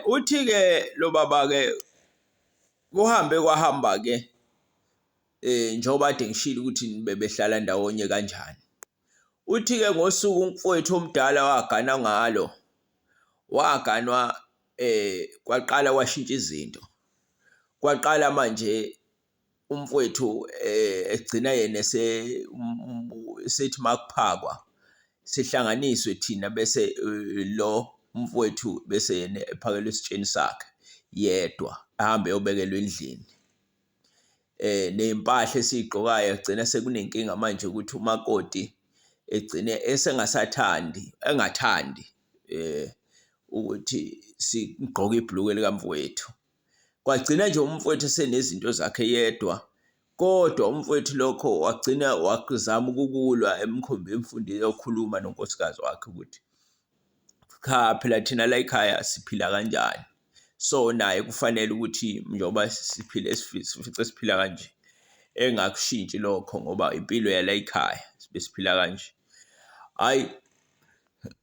Uthi-ke lo baba-ke kuhambe kwahamba-ke um njengoba kade ngishilo ukuthi bebehlala ndawonye kanjani. Uthi-ke ngosuku umfowethu omdala wagana ngalo, waganwa um kwaqala kwashintsha izinto. Kwaqala manje umfwethu eh, egcina yena esethi makuphakwa sihlanganiswe thina bese eh, lo umfwethu bese yena ephakelwe esitsheni sakhe yedwa ahambe eyobekelwa endlini eh nezimpahla esizigqokayo agcina sekunenkinga manje ukuthi umakoti egcine esengasathandi engathandi eh ukuthi sigqoke ibhulukwe likamfowethu kwagcina nje umfowethu esenezinto zakhe yedwa kodwa umfowethu lokho wagcina wazama ukukulwa emkhombe emfundini yokhuluma nonkosikazi wakhe ukuthi cha phela thina la ekhaya siphila kanjani so naye kufanele ukuthi njengoba siphile sifice siphila kanje engakushintshi lokho ngoba impilo yala ekhaya besiphila kanje hayi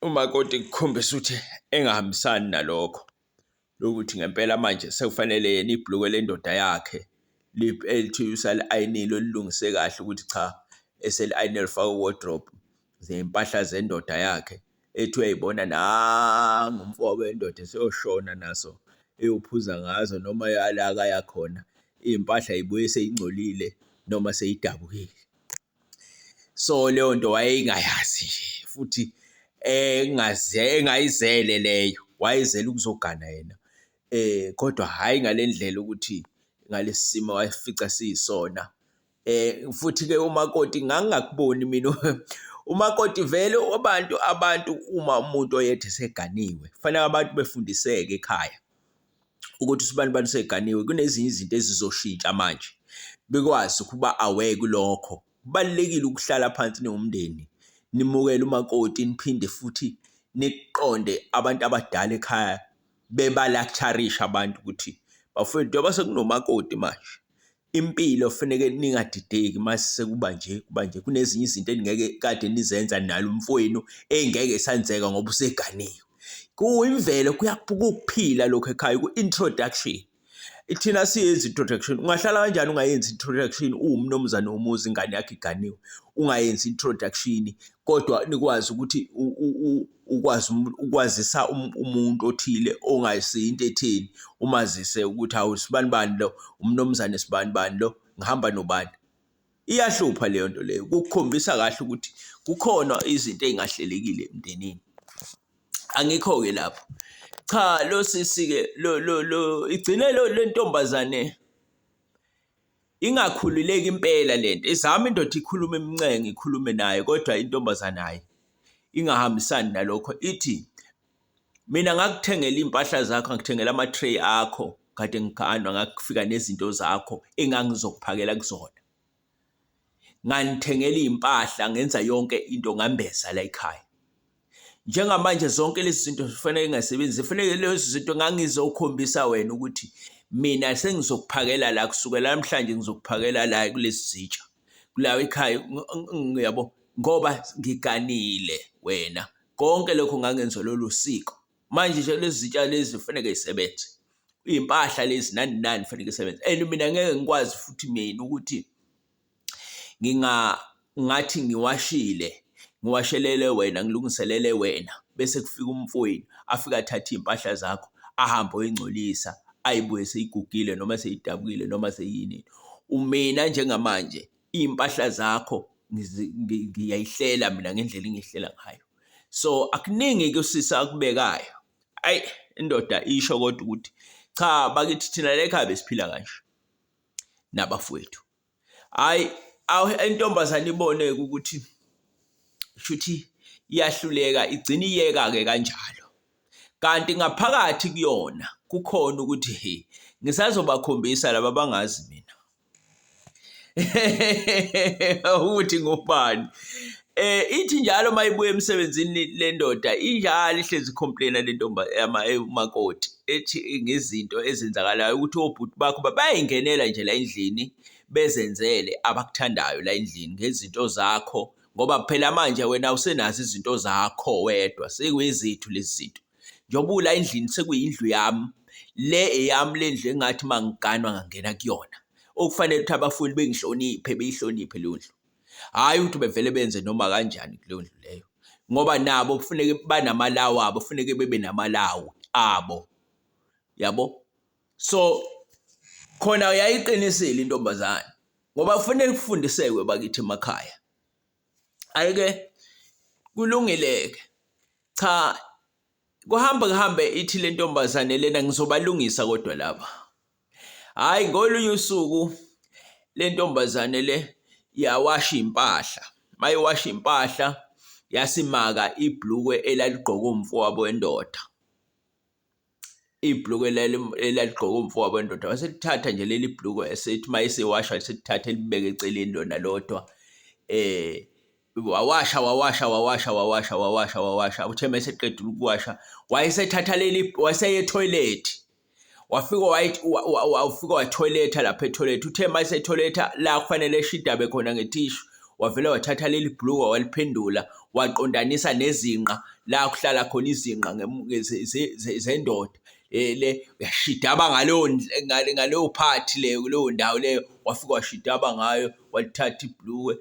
umakoti kukhombisa ukuthi engahambisani nalokho lokuthi ngempela manje sekufanele yena ibhulukwe lendoda yakhe lithi usali-ayinile olilungise kahle ukuthi cha eseli-ayine lifaka wardrobe zey'mpahla zendoda yakhe ethi uyayibona nangu umfobe wendoda eseyoshona naso eyophuza ngazo noma yala akayakhona iy'mpahla yibuye seyingcolile noma seyidabukile. so leyo nto wayeyingayazi nje futhi engaze engayizele leyo wayezele ukuzogana yena um kodwa hhayi ngale ndlela ukuthi ngalesi simo wayefica siyisona. Um futhi-ke umakoti ngangingakuboni mina umakoti vele abantu abantu uma umuntu oyedwa eseganiwe kufanele abantu befundiseke ekhaya. ukuthi usibanibani seganiwe kunezinye izinto ezizoshintsha manje bekwazi ukuba aware kulokho kubalulekile ukuhlala phansi newumndeni nimukele umakoti niphinde futhi niqonde abantu abadala ekhaya bebalaktharisha abantu ukuthi bafowethu njengoba sekunomakoti manje Impilo kufuneke ningadideki masekuba nje kuba nje kunezinye izinto eningeke kade nizenza nalo mfowenu engeke sanzeka ngoba useganiwe kuyimvelo kuyaphila lokho ekhaya ku-introduction ithina siyenza introduction ungahlala kanjani ungayenzi introduction uwumnumzane womuzi ingane yakho iganiwe ungayenzi introduction kodwa nikwazi ukuthi ukwazi ukwazisa um-, umuntu othile ongayisiyo into etheni umazise ukuthi hawu sibani bani lo umnomzane sibani bani lo ngihamba nobani iyahlupha leyo nto leyo kukhombisa kahle ukuthi kukhona izinto ezingahlelekile emndenini angikho-ke lapho cha lo sisi-ke lo lo lo igcine lo lentombazane Ingakhululeki impela lento izama indoda ikhuluma imncenga ikhulume naye kodwa intombazane hayi ingahambisani nalokho ithi mina ngakuthengela iy'mpahla zakho ngikuthengela ama-tray akho kade ngiganwa ngakufika nezinto zakho engangizokuphakela kuzona. Nganithengela iy'mpahla ngenza yonke into ngambeza la ekhaya. njengamanje zonke lezi zinto zifanele ngasebenzi zifanele lezi zinto ngangizokhombisa wena ukuthi mina sengizokuphakela la kusukela namhlanje ngizokuphakela la kulezi zitsha kulawo ekhaya ngiyabo ngoba ngiganile wena konke lokho ngangenza lolu siko manje nje lezi zitsha lezi kufanele isebenze impahla lezi nani nani kufanele isebenze and mina ngeke ngikwazi futhi mina ukuthi nginga ngathi ngiwashile ngiwashelele wena ngilungiselele wena bese kufika umfowenu afike athathe iy'mpahla zakho ahambe oyingcolisa ayibuye seyigugile noma seyidabukile noma seyini umina njengamanje iy'mpahla zakho ngiyayihlela mina ngendlela engiyihlela ngayo so akuningi ke usisi akubekayo ayi indoda isho kodwa ukuthi cha bakithi thina lekhaya besiphila kanje nabafowethu hayi intombazane iboneke ukuthi shuthi iyahluleka igcina iyeka ke kanjalo kanti ngaphakathi kuyona kukhona ukuthi he ngisazobakhombisa laba bangazi mina ukuthi ngubani Eh ithi njalo mayibuya emsebenzini le ndoda injalo ihlezi complaina le ntombi umakoti ethi ngezinto ezenzakalayo ukuthi obhuti bakho bayayingenela nje la endlini bezenzele abakuthandayo la endlini ngezinto zakho ngoba phela manje wena usenazo izinto zakho wedwa sekuyizethu lezi zinto njengoba ula endlini sekuyindlu yami le eyami le ndlu engathi mangiganwa ngangena kuyona okufanele ukuthi abafundi bengihloniphe beyihloniphe leyo ndlu hhayi ukuthi bevele benze noma kanjani kuleyo ndlu leyo ngoba nabo kufuneke banamalawo abo kufuneke bebe namalawo abo yabo so khona uyayiqinisile intombazane ngoba kufanele kufundisekwe bakithi emakhaya ayike kulungileke cha kuhamba kuhambe ithi lentombazane lena ngizobalungisa kodwa laba hhayi ngolunye usuku le ntombazane le yawasha iy'mpahla uma iwasha iy'mpahla yasimaka ibhlukwe elaligqoke umfowabo wendoda ibhlukwe elaligqoke umfowabo wendoda waselithatha nje leli bhlukwe esethi uma esewasha selithatha elibeke eceleni lona lodwa um wawasha wawasha wawasha wawasha wawasha wawasha uthe uma eseqedile ukuwasha wayesethatha leli waseye toilet wafika wafika wathoiletha lapha etoilet uthe uma esetoiletha la kufanele eshidabe khona ngethishu wavele wathatha leli bhulukwa waliphendula waqondanisa nezinqa la kuhlala khona izinqa zendoda e, le uyashidaba ngaleyo ngaleyo phathi leyo kuleyo ndawo leyo wafika washidaba ngayo walithatha ibhluwe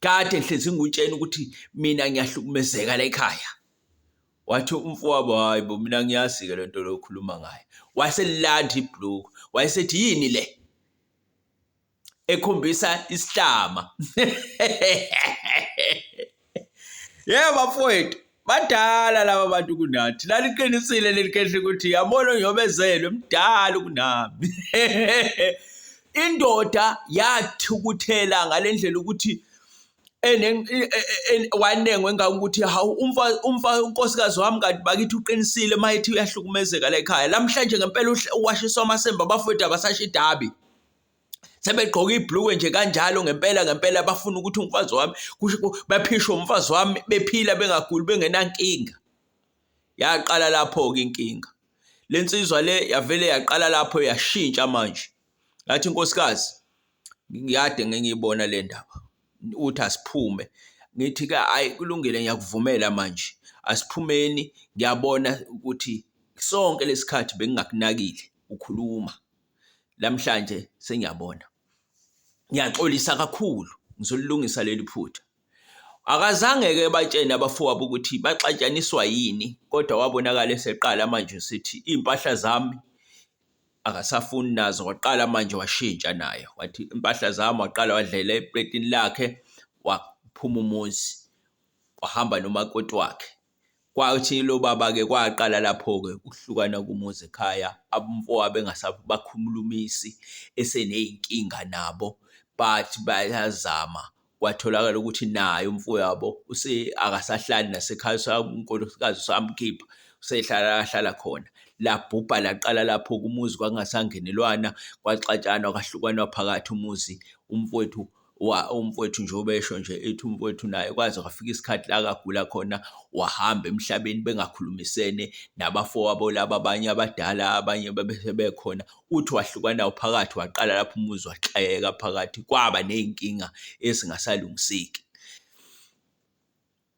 kade ngihlezi ngikutshena ukuthi mina ngiyahlukumezeka la ekhaya wathi umfowabo hayi bo mina ngiyazi-ke le nto lokhuluma ngayo waselilanda ibhluku wayesethi yini le ekhombisa isihlama Yebo bafowethu badala laba bantu kunathi laliqinisile leli khehle ukuthi yabona ngiyobezelwe mdala kunami indoda yathukuthela ngalendlela ukuthi e, e, e, wanengwe ngakuthi hawu umfa umfa unkosikazi wami kanti bakithi uqinisile mayithi uyahlukumezeka la ekhaya lamhlanje ngempela uwashiswa amasemba abafowethu abasashidabi sebegqoka ibhlukwe nje kanjalo ngempela ngempela bafuna ukuthi umfazi wami baphishe umfazi wami bephila bengaguli bengenankinga yaqala lapho-ke inkinga le nsizwa le yavele yaqala lapho yashintsha manje ngathi inkosikazi ngiyade ngengiyibona le ndaba uthi asiphume ngithi ke ayi kulungile ngiyakuvumela manje asiphumeni ngiyabona ukuthi sonke lesikhathi bengingakunakile ukhuluma namhlanje sengiyabona ngiyaxolisa kakhulu ngizolilungisa leli phutha akazange-ke batshene abafowabo ukuthi baxatshaniswa yini kodwa wabonakala eseqala manje sithi iy'mpahla zami akasafuni nazo waqala manje washintsha naye wathi impahla zami waqala wadlela epletini lakhe waphuma umuzi wahamba nomakoti wakhe Kwathi lo baba-ke kwaqala lapho-ke ukuhlukana kumuzi ekhaya, abomfowabo engasabakhulumisi eseney'nkinga nabo, but bayazama. Kwatholakala ukuthi naye umfowabo akasahlali nasekhaya unkosikazi usamkhipha, usehlala la ahlala khona. Labhubha laqala lapho umuzi kwakungasangenelwana, kwaxatshanwa kwahlukanwa phakathi umuzi umfowethu. wa umfowethu nje ubesho nje ethi umfowethu naye kwaze kwafika isikhathi la kagula khona wahamba emhlabeni bengakhulumisene nabafowabo laba abanye abadala abanye bebekhona uthi wahlukana phakathi waqala lapho umuzi waxeka phakathi kwaba nezinkinga ezingasalungiseki